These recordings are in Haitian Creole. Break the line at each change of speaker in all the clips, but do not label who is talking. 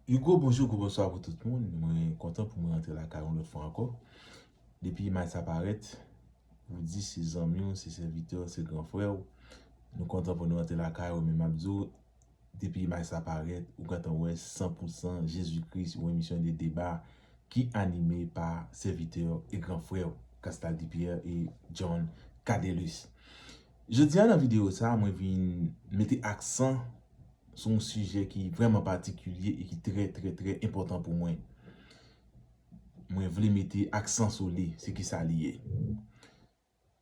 You gwo bonjou, gwo bonswa pou tout moun. Mwen kontan pou mwen antre lakay yon lòt fwa ankò. Depi imaj sa parèt, ou di se zanmi w, se sèvitè w, se gran frè w. Nou kontan pou nou antre lakay ou men m ap di w, depi imaj sa parèt, ou gentan wè san pou san Jezi Kris, yon emisyon de deba ki anime pa sèvitè w e gran frè w, Castaldi Pierre et John Cadelus. Jodia nan video sa mwen vin mete aksan sou yon sijè ki vrèman patikilye e ki trè trè trè enpòtan pou mwen. Mwen vle mete aksan sou li, se kisa li ye.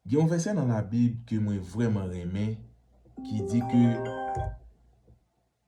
Gen yon vèsè nan labib ke mwen vrèman renmen ki di ke.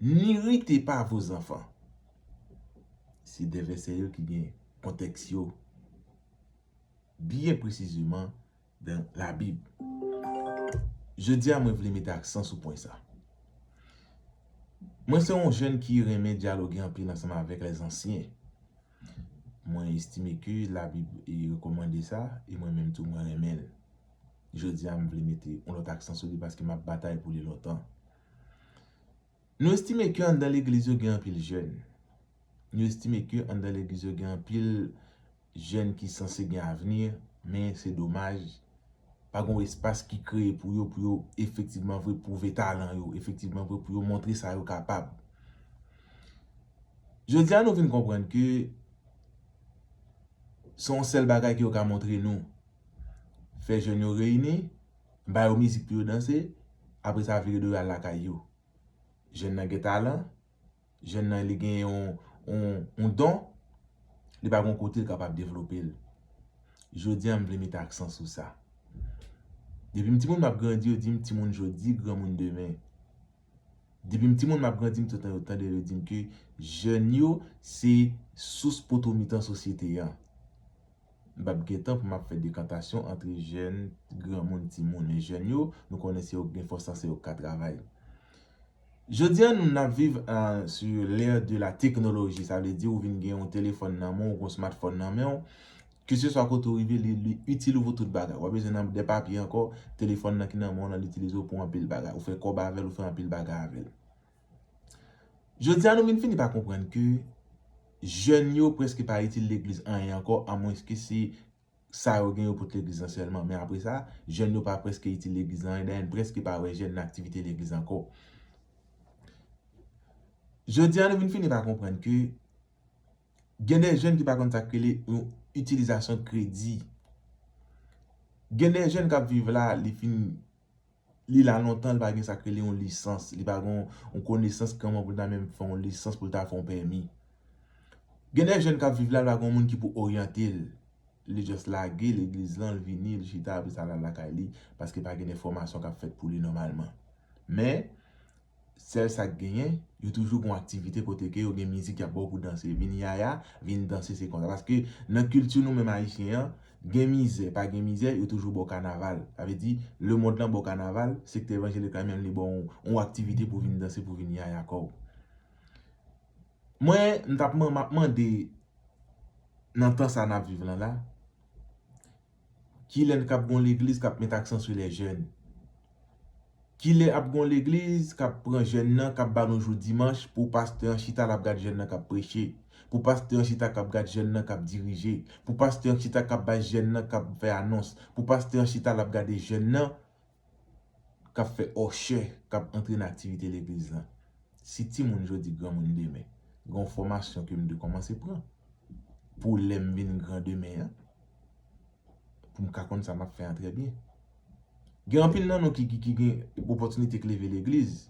N'irrite pas vos enfants. Se 2 vèsè yo ki gen kontèks yo byen presizeman dan Labib. Jodi a mwen vle mete aksan sou pwen sa. Mwen se yon jèn ki renmen dyaloge anpil ansanm avèk lèzansyen. Mwen estime ke Labib rekòmande sa e mwen menm tou mwen renmen l. Jodi a m vle mete yon lòt aksan sou li paske m ap batay pou li lontan. Nou estime ke anndan legliz yo gen anpil jèn. Nou estime ke anndan legliz yo gen anpil jèn ki sanse gen avni, men se domaj, pa gen yon espas ki kreye pou yo, pou yo efektivman vre pwouve talan yo, efektivman vre pou yo montre sa yo kapab. Jodi a nou vin konprann ke se yon sèl bagay ke yo ka montre nou, fè jèn yo reyini, Ba yo mizik pou yo danse, apre sa vire do yo al lakay yo. Jèn nan gen talan, jèn nan li gen yon don, li pa gen kote li kapab devlope l. Jodi a m vle mete aksan sou sa. Depi m timoun m ap grandi yo di m timoun jodi, granmoun demen. Depi m timoun m ap grandi m touttan yo tande yo di m ke jèn yo se sous potomitan sosyete an. M pap gen tan pou m ap fè dekantasyon antre jèn, granmoun, timoun. Men jèn yo, nou konnen se yo k gen fòs lan, se yo k ka travay. Jodi a nou n ap viv sou l'ère de la technologie, sa vle di ou vin gen yon telefòn nan men w, ou gen yon smartphone nan men w, ke se swa kote ou rive li itil ou pou tout bagay. Ou pa bezwen nan de papye ankò, telefòn nan ki nan men w lan l itilize w pou anpil bagay. Ou fè kòb avè l, ou fè anpil bagay avè l. Jodi a nou vin fini pa konprann ke jèn yo preske pa itil legliz anyen ankò amwenske se sa yo gen yo pot legliz lan sèlman men apre sa jèn yo pa preske itil legliz lan anyen dayè n preske pa wè jèn nan aktivite legliz ankò. Jodi a nou vin fini pa konprann ke gen de jèn ki pa konn sak rele yon itilizasyon kredi. Gen de jèn kap viv la li fin. Li la lontan li pa gen sak rele yon lisans, li pa gen yon konesans kòman pou l ta menm fè yon lisans pou l ta fè yon pèmi. Gen de jèn k ap viv la, li pa gen yon moun ki pou oryante l. Li just lage legliz lan, li vini, li chita apre sa l al lakay li paske pa gen de fòmasyon k ap fèt pou li nòmalman. Men, sèl sak genyen yo toujou gon aktivite kote ke yo gen mizik yap baw pou danse vin yaya vin danse se konsa paske nan kilti nou menm ayisyen an gen mizè pa gen mizè yo toujou baw kanaval sa vle di lemond lan baw kanaval sektè evanjelik la menm li baw yon aktivite pou vin danse pou vin yaya kòw mwen mtap map mande nan tan sa nap viv lan la Kilè n kap gon legliz kap met aksan sou lè jèn? Kilè ap gon legliz kap pran jèn nan kap ba nou jou dimanch pou pastè an chita lap gad jèn nan kap preche, pou pastè an chita kap gad jèn nan kap dirije, pou pastè an chita kap bay jèn nan kap fè anons, pou pastè an chita lap gade jèn nan kap fè òchè kap antre nan aktivite legliz lan si timoun jodi granmoun demen gen yon fòmasyon kem dwe kòmanse pran pou lèm vin gran demen an poum ka konn sa map fè an trè byen gen anpil nan nou ki gen opòtinite k leve legliz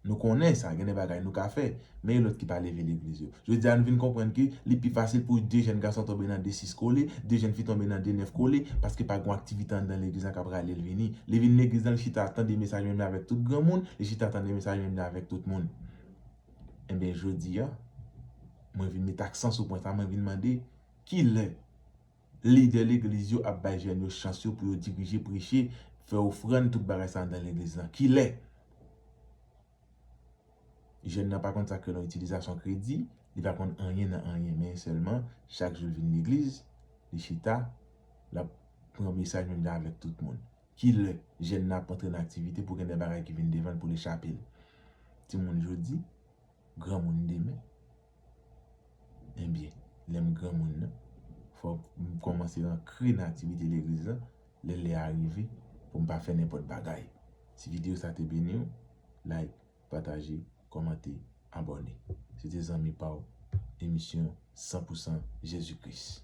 Nou konnen sa, gen de bagay nou ka fè, men e lòt ki pa leve legliz yo? Jodi a nou vin konprann ke li pi fasil pou 2 jenn gason tonbe nan 2 sis kole, 2 jenn fi tonbe nan 2 nèf kole, paske pa gen yon aktivite anndan legliz lan k'ap rale l vini. Li vin legliz lan, li chita ap tande mesaj menm jan avèk tout granmoun, li chita tande mesaj menm jan avèk tout moun. Enben jodi a, mwen vin met aksan sou pwen sa, mwen vin mande, kilè? Lidè legliz yo ap bay jèn yo chans yo pou yo dirije, preche, fè ofrann, tout bagay sa anndan legliz lan. Kilè? Jèn nan pa konn sa k rele yon itilizasyon kredi, li pa konn anyen nan anyen men sèlman chak jou l vin legliz, li chita, l ap pran mesaj menm jan avèk tout moun. Kilè jèn nan ap antre nan aktivite pou gen de bagay ki vin devan l pou l echape l? Timoun jodi. granmoun demen Ebyen lè m granmoun nan fòk m kòmanse ankre nan aktivite legliz la lè lè a rive pou m pa fè nenpòt bagay Si videyo sa te beni w like pataje kòmante abòne Se te zanmi pa w emisyon 100 pousan Jezi Kris.